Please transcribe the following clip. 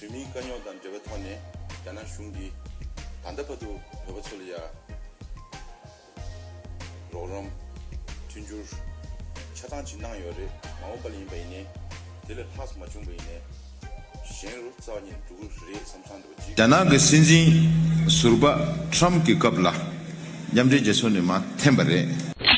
བོད་མིའི་དཀའ་རྙོག་དང་འབྲེལ་བའི་ཐོག་ནས་རྒྱ་ནག་གཞུང་གིས་ད་ལྟ་བར་དུ་བོད་པ་ཚོ་ལ་ཡ། རོགས་རམ། མཐུན་འགྱུར། ཆ་ཚང་ཞིག་གནང་ཡོད་རེད་མ་འོངས་པ་ལ་ཡིན་པ་ཡིན་ནའི། དེ་ལས་ལྷག་མ་བྱུང་བ་ཡིན་ནའི། གཞན་རུ་རྩ་བ་ཉིད་འགྲོ་གི་རེད་བསམ་བསམ་འདུག་བགྱིས། རྒྱ་ནག་གི་སྲིད་འཛིན་ཟུར་པ Trump གི་སྐབས་ལ་མཉམ་འབྲེལ་རྒྱལ་ཚོགས་ནས་མ་འཐེན་པ་རེད།